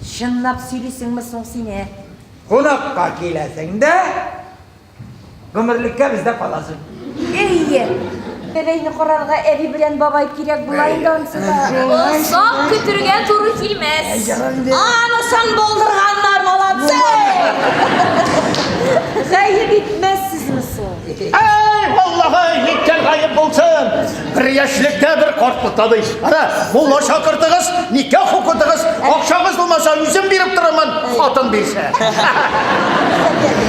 Чынлап сөйлисеңме соң син, ә? Кунакка киләсең дә, гомерлеккә бездә каласың. Әйе. Бәбәйне карарга әби белән бабай кирәк була инде ансыда. Озак көтергә туры килмәс. Анысын булдырганнар, молодцы! Гаеп итмәссезме соң? Әй, Аллаһы, ниткән гаеп булсын! Бер яшьлектә бер картлыкта ди. Ана, мулла чакыртыгыз, никах укытыгыз, акчагыз булмаса, үзем биреп торырмын, хатын бирсә.